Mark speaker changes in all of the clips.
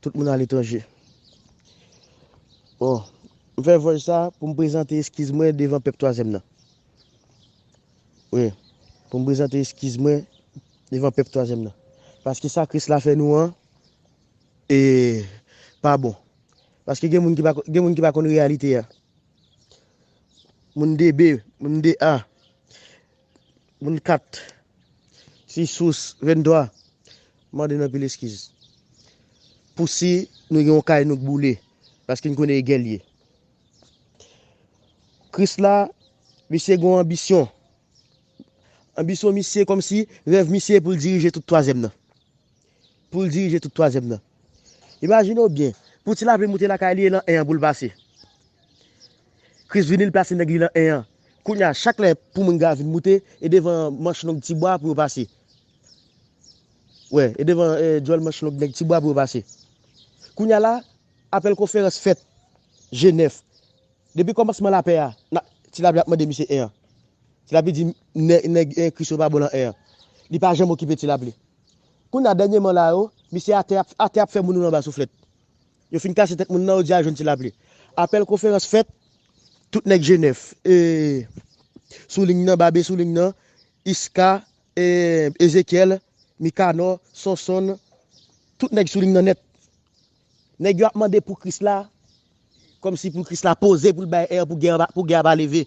Speaker 1: Tout moun aletranje. Bon, m fè vòj sa pou m prezante eskiz mwen devan pèp twazyèm nan. Wi, pou m prezante eskiz mwen devan pèp twazyèm nan. Paske sa Kris la fè nou an, e, pa bon. Paske gen moun ki pa, gen moun ki pa konn reyalite a. Moun 2B, moun 2A. Moun 4 Ti sous 23 Mande n anpil eskiz Pou si nou gen yon kay nou k boule Paske n konnen e gè l ye Kris la Misye gen yon anbisyon Anbisyon misye kòmsi Rèv misye pou l dirije tout twazyèm nan pou l dirije tout twazyèm nan. Imajine w byen, pou ti lapli moute lakay li e lan 1 an pou l pase. Kris vini l plase nèg li lan 1 an. Kounye a, chak lè pou moun gravi n moute, e devan manch long ti bwa pou yo pase. Wè, e devan djòl manch long nèg ti bwa pou yo pase. Kounye a la, apèl konferans fèt, je nèf. Depi kòmansman lapè a, n ap, ti lapli ap mande misye 1 an. Ti lapli di, nèg Kris yo pa bon lan 1 an. Li pa janm okipe ti lapli. Kounya dènyeman la yo, misye atè ap atè ap fè moun anba souflèt. Yo fin kase tèt moun nan yo di al jwenn ti lapli. Apèl konferans fèt, tout nèg Jenèf e sou ling nan, Babe sou ling nan, Iska, Ezekyèl, Mikanò, Sonsonn, tout nèg sou ling nan nèt. Nèg yo ap mande pou Kris la, kòmsi pou Kris la poze pou l bay èr pou gè a pou gè a pa leve.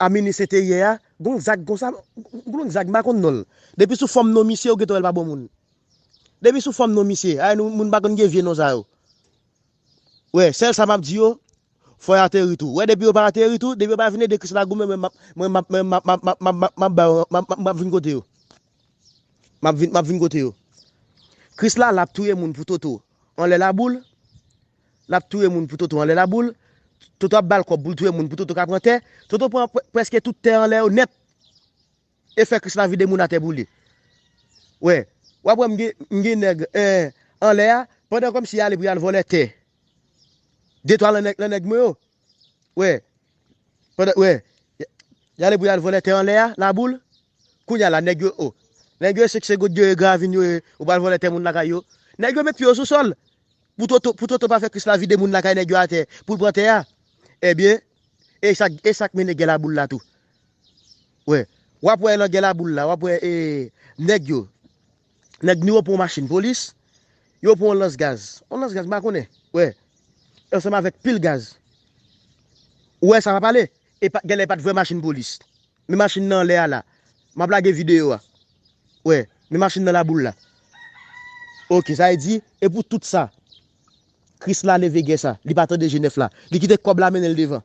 Speaker 1: A minwi se te yè a, gon zag konsa, gon zag m pa konn non l. Depi sou fòm non misye ou gentan wè l pa bon moun. Depi sou fòm non misye, ay nou moun pa konn gen vye non sa yo. Wè, sèl sa m ap di yo, fò y ateri tou. Wè depi yo pa ateri tou, depi yo pa vin ede Kris la goumen mwen m ap, mwen m ap, mwen m ap, m ap ba yo, m ap, m ap vin kote yo. M ap vin, m ap vin kote yo. Kris la la ap touye moun pou toto anlè laboul, Lap touye moun pou Toto anlè laboul, Toto ap bal kòb poul touye moun pou Toto ka pran tè, Toto pran prèske tout tè anlè yo nèt e fè Krisla vide moun atè pou li. Wè, wap wè m gen nèg anlè a pandan kòmsi yale pou yal vòlè tè de twa lan nèg mwen yo. Wè, pandan wè yale pou yal vòlè tè anlè a laboul, kounya la nèg yo o, nèg yo e seksegot yo e gravin yo e ou pral vòlè tè moun lakay yo. Nèg yo met pye yo sou sòl. Pou toto pou toto pa fè kris la vide moun lakay nèg yo atè poul pran tè a ebyen esak esak mennen gè laboul la tou wè wap wè nan gè laboul la wap wè ee nèg yo nèg nou yo pran yon machin polis yo pran yon lans gaz yon lans gaz m pa konnen wè ansanm avèk pil gaz wè sa map pale epa gèlè pat vrè machin polis Men machin nan anlè a la. M ap lage videyo a. Wè. Men machin nan laboul la. Ok. Sa vle di, e pou tout sa, Kris la leve gè sa. Li pa tande Jenèf la. Li kite kòb la mennen l devan.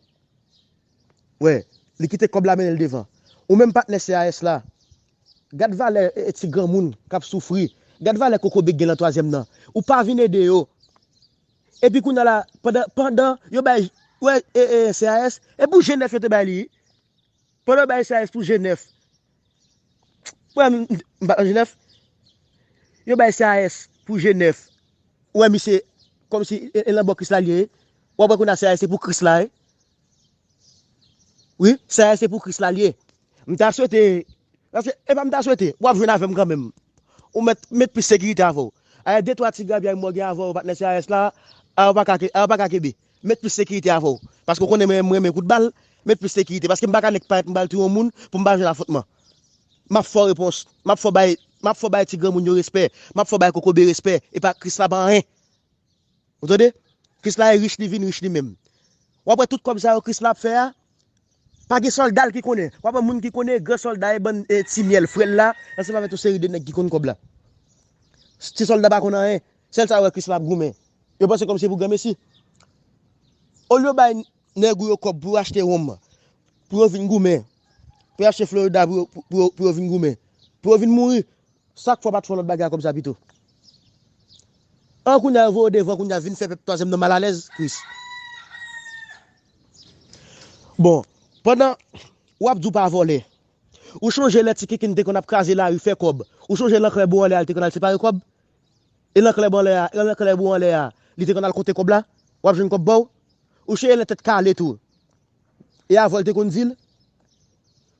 Speaker 1: Wè. Li kite kòb la mennen l devan. Ou menm patnè CAS la, gad valè ti granmoun k ap soufri. Gad valè kokobe k gen lan twazyèm nan. Ou pa vin ede yo. Epi kounye a la, pandan, pandan yo bay, wè, e, e, CAS, e pou Jenèf yo te bay li. Pandan bay sas pou Jenèf. Wè m pa nan Jenèf. Yo bay sas pou Jenèf. Wè misye kòmsi e lan bò Kris la li ye. W ap wè kounye a sas se pou Kris la ye. Wi, sas se pou Kris la li ye. M ta swete, paske e pa m ta swete, w ap jwenn avè m kanmenm. Ou mèt met plis sekirite avè w. Ayè de twa ti grabyay mò gen avè w patnè sas la, a ou pa ka kenbe. Met plis sekirite avè w paske w konnen mwen renmen kout bal met plis sekirite paske m paka nèk parèt m pral touye yon moun pou m pa jwenn afwontman map fè w repons map fè w bay map fè w bay ti granmoun yo respè map fè w bay kokobe respè epa krisla pa anyen ou tande krisla e rich li vin rich li menm wap wè tout kòb sa yo krisla ap fè a pa gen sòlda l ki konnen wap wè moun ki konnen gran sòlda e bann ti myèl frè l la ansanm avè yon seri de nèg ki konn kòb la ti sòlda pa konn anyen. Sèl sa yo wè Krisla ap goumen. Yo panse kòmsi se pou granmesi. Olye yo bay nèg ou yo kòb pou yo achte wonm, pou yo vin goumen, pou yo achte Florida pou yo vin goumen, pou yo vin mouri, sak fè w pat fè yon lòt bagay ak kòb sa pito? An kounye a yo voye w devan kounye a vin fè pèp twazyèm nan malalèz Kris. Bon, pandan wap di w pa vòlè, ou chonje lè ti kinkin te konn ap kraze lari fè kòb, ou chonje lè ankrè bon an lè a li te konn al separe kòb? E lan klèb anlè a, e lan klèb ou anlè a, li te konn al konte kòb la? W ap jwenn kòb ba w? Ou cheye lan tèt kale tou. E avan l te konn di l?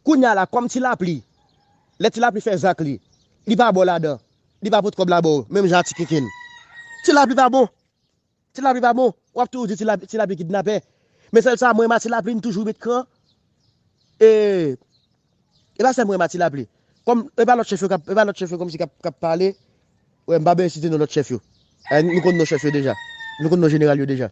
Speaker 1: Kounya la, kòm ti lapli, lè ti lapli fè zak li, li pa ba w ladan, li pa pot kòb la ba w, menm jan a ti kinkin. Ti lapli pa bon! Ti lapli pa bon, wap toujou di ti lapli kidnapè. Men sèl sa mwen renma ti lapli li toujou met kran. E e pa sèl mwen renma ti lapli. Kòm e pa lòt chèf yo kap, e pa lòt chèf yo kòmsi kap kap pale. Wè m pa bezwen site non lòt chèf yo. E nou konn non chèf yo deja. Nou konn non jeneral yo deja.